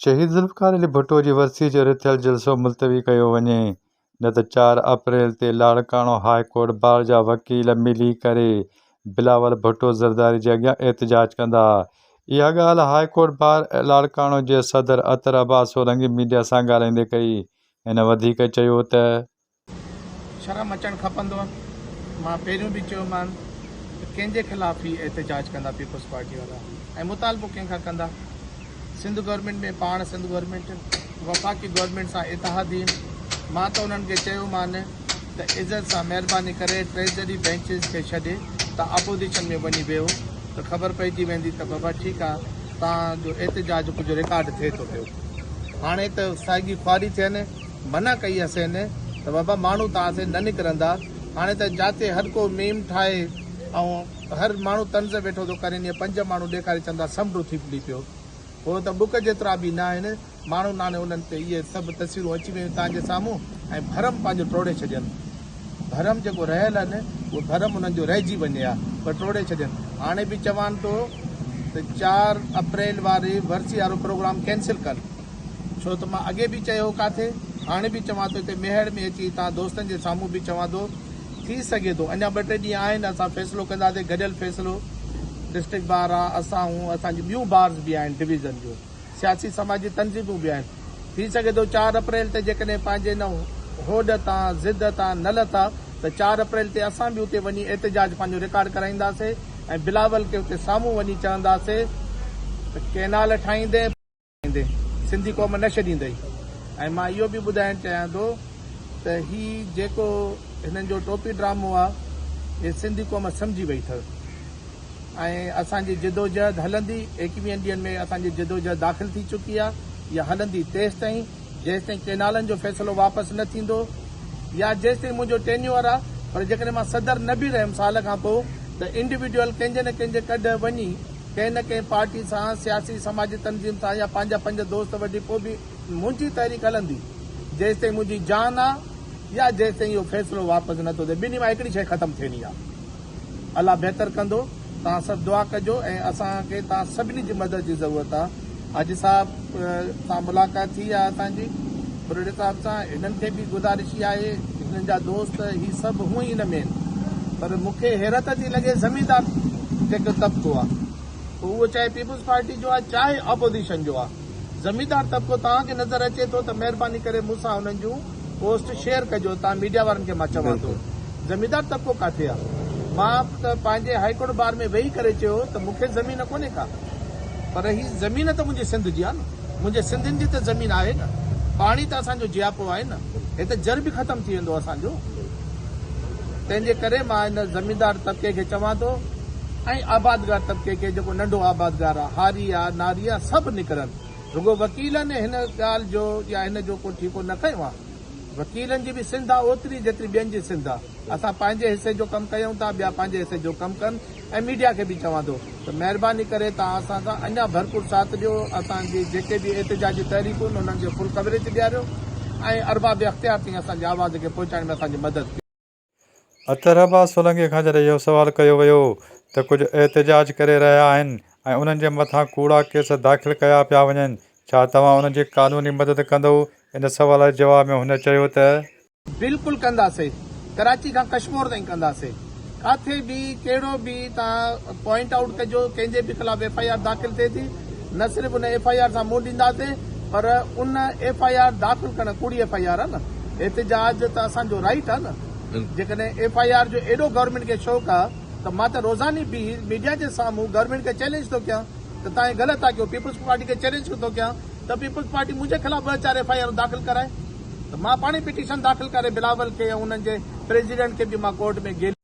شهيد ذوالفقار علي ڀٽو جي ورسيء جي رٿيل جلسو ملتوي ڪيو وڃي نه ته چار اپريل تي لاڙڪاڻو هاء ڪورٽ بار جا وڪيل ملي ڪري بلاول ڀٽو زرداري جي اڳيان احتجاج ڪندا. اها ڳالهه هاء ڪورٽ بار لاڙڪاڻو جي صدر عطر عباس سولنگي ميڊيا سان ڳالهائيندي ڪئي. هن وڌيڪ چيو ته. شرم اچڻ کپندو مان پهريون به چيو مان ته ڪنهن جي خلاف هي احتجاج ڪندا پيپلز پارٽي وارا ۽ مطالبو ڪنهن کان ڪندا سنڌ گورنمينٽ ۾ پاڻ سنڌ گورنمينٽ وفاقي گورنمينٽ سان اتحادين مان ته انهن کي چيو مان ته عزت سان مهرباني ڪري ٽريجري بينچز کي ڇڏي ته اپوزيشن ۾ وڃي ويهو ته خبر پئجي ويندي ته بابا ٺيڪ آ تان جو احتجاج ڪجهه رڪارڊ ٿئي ٿو پيو هاڻي ته سائگي خواري ٿين منع ڪئي هئسين ته بابا ماڻهو توهان سين نه نڪرندا، هاڻي ته جاتي هرڪو ميم ٺاهي ۽ هر ماڻهو طنز ويٺو ٿو ڪرين يا پنج ماڻهو ڏيکاري چوندا سمنڊو ٿي ڦلي پيو. هو ته ٻڪ جيترا به نه آهن، ماڻهو ناڻي انهن تي اهي سڀ تصويرون اچي ويون توهان جي سامهون ۽ ڀرم پنهنجو ٽوڙي ڇڏين. ڀرم جيڪو رهيل هن اهو ڀرم انهن جو رهجي وڃي ها پر ٽوڙي ڇڏين. هاڻي به چوان ٿو ته چار اپريل واري ورسي وارو پروگرام ڪينسل ڪن. ڇو ته مان اڳي به چيو هو ڪاٿي، هاڻي به چوان ٿو هتي ميهڙ ۾ اچي توهان دوستن جي سامهون به چوان ٿو، ٿي سگهي ٿو اڃا ٻه ٽي ڏينهن آهن اسان فيصلو ڪنداسين گڏيل فيصلو ڊسٽرڪٽ بار آ، اسان هون اسان جون ٻيون بارز به آهن ڊويزن جون سياسي سماجي تنظيمون به آهن، ٿي سگهي ٿو چار اپريل تي جيڪڏهن پنهنجي ان هوڏ تان ضد تان نه لٿا ته چار اپريل تي اسان به اتي وڃي احتجاج پنهنجو رڪارڊ ڪرائينداسين ۽ بلاول کي اتي سامهون وڃي چونداسين ته ڪينال ٺاهيندين. ڪندي سنڌي قوم نه ڇڏيندئي ۽ مان اهو به ٻڌائڻ چاهيان ٿو ته هي جيڪو هنن جو ٽوپي ڊرامو آهي هي سنڌي قوم سمجهي وئي اٿس ۽ اسان جي جدوجهد هلندي ايڪويهن ڏينهن ۾ اسان جي جدوجهد داخل ٿي چڪي آهي يا هلندي تيس تائين جيس تائين ڪينالن جو فيصلو واپس نه ٿيندو يا جيس تائين منهنجو ٽينيور آهي پر جيڪڏهن مان صدر نه به رهيم سال کان پوء ته انڊيوڊيول ڪنهن جي نه ڪنهن جي ڪڍ وڃي ڪنهن نه ڪنهن پارٽي سان، سياسي سماجي تنظيم سان يا پنهنجا پنج دوست وڍي پوء به منهنجي تحريڪ هلندي جيستائين منهنجي جان آ يا جيستائين اهو فيصلو واپس نه ٿو ٿئي ٻنهي مان هڪڙي شيء ختم ٿيڻي آ الله بهتر ڪندو توهان سڀ دعا ڪجو ۽ اسان کي توهان سڀني جي مدد جي ضرورت آ. حاجي صاحب سان ملاقات ٿي آهي اسان جي ٻرڙي صاحب سان هنن کي به گذارش اها آهي هنن جا دوست هي سڀ هونء ئي نه مين پر مون کي حيرت ٿي لڳي زميندار جيڪو طبقو آهي پوء اهو چاهي پيپلز پارٽي جو آهي چاهي آپوزيشن جو آهي زميندار طبقو توهان کي نظر اچي ٿو ته مهرباني ڪري مون سان هنن جون پوسٽ شيئر ڪجو تان ميڊيا وارن کي مان چوان ٿو زميندار طبقو ڪاٿي آ مان ته پنهنجي هائي ڪورٽ بار ۾ ويهي ڪري چيو هو ته مون کي زمين ڪونهي ڪا پر هي زمين ته منهنجي سنڌ جي آ نه منهنجي سنڌين جي ته زمين آهي نه پاڻي ته اسان جو جياپو آهي نه هت جر به ختم ٿي ويندو اسان جو تنهن جي ڪري مان هن زميندار طبقي کي چوان ٿو ۽ آبادگار طبقي کي جيڪو ننڍو آبادگار آ هاري آ ناري آ سڀ نڪرن رڳو وڪيلن هن ڳالهه جو يا هن جو ڪو ٺيڪو نه کنيو آهي. وڪيلن جي به سنڌ آهي اوتري جيتري ٻين جي سنڌ آهي. اسان پنهنجي حصي جو ڪم ڪيون ٿا ٻيا پنهنجي حصي جو ڪم ڪن ۽ ميڊيا کي به چوان ٿو ته مهرباني ڪري توهان اسان سان اڃا ڀرپور ساٿ ڏيو اسان جي جيڪي به احتجاجي تحريڪون انهن جو فل ڪوريج ڏياريو ۽ ارباب اختيار تائين اسان جي آواز کي پهچائڻ ۾ اسان جي مدد ڪيو. اطهر عباس سولنگي کان جڏهن اهو سوال ڪيو ويو ته ڪجهه احتجاج ڪري رهيا آهن ۽ انهن جي مٿان ڪوڙا ڪيس داخل ڪيا پيا وڃن، ڇا توهان انهن جي قانوني مدد ڪندئو؟ ان سوال جي جواب ۾ هن چيو ته. بلڪل ڪنداسين، ڪراچي کان ڪشمور تائين ڪنداسين، ڪاٿي به ڪهڙو به تان پوائنٽ آئوٽ ڪجو، ڪنهن جي به خلاف ايف آء آر داخل ٿئي ٿي، نه صرف ان ايف آء آر سان منهن ڏينداسين پر ان ايف آء آر داخل ڪرڻ ڪوڙي ايف آء آر آ نه احتجاج ته اسان جو رائيٽ آ نه جيڪڏهن ايف آء آر جو ايڏو گورنمينٽ کي شوق آ ته مان ته روزاني بيهي ميڊيا جي سامهون گورنمينٽ کي چئلينج ٿو ڪيان ته تان هي غلط ٿا ڪيو پيپلز پارٽي کي چئلينج ٿو ڪيان ته پيپلز پارٽي منهنجي خلاف ٻه چار ايف آء آرون داخل ڪرائي ته مان پاڻهي پٽيشن داخل ڪري بلاول کي ۽ انهن جي پريزيڊنٽ کي به مان ڪورٽ ۾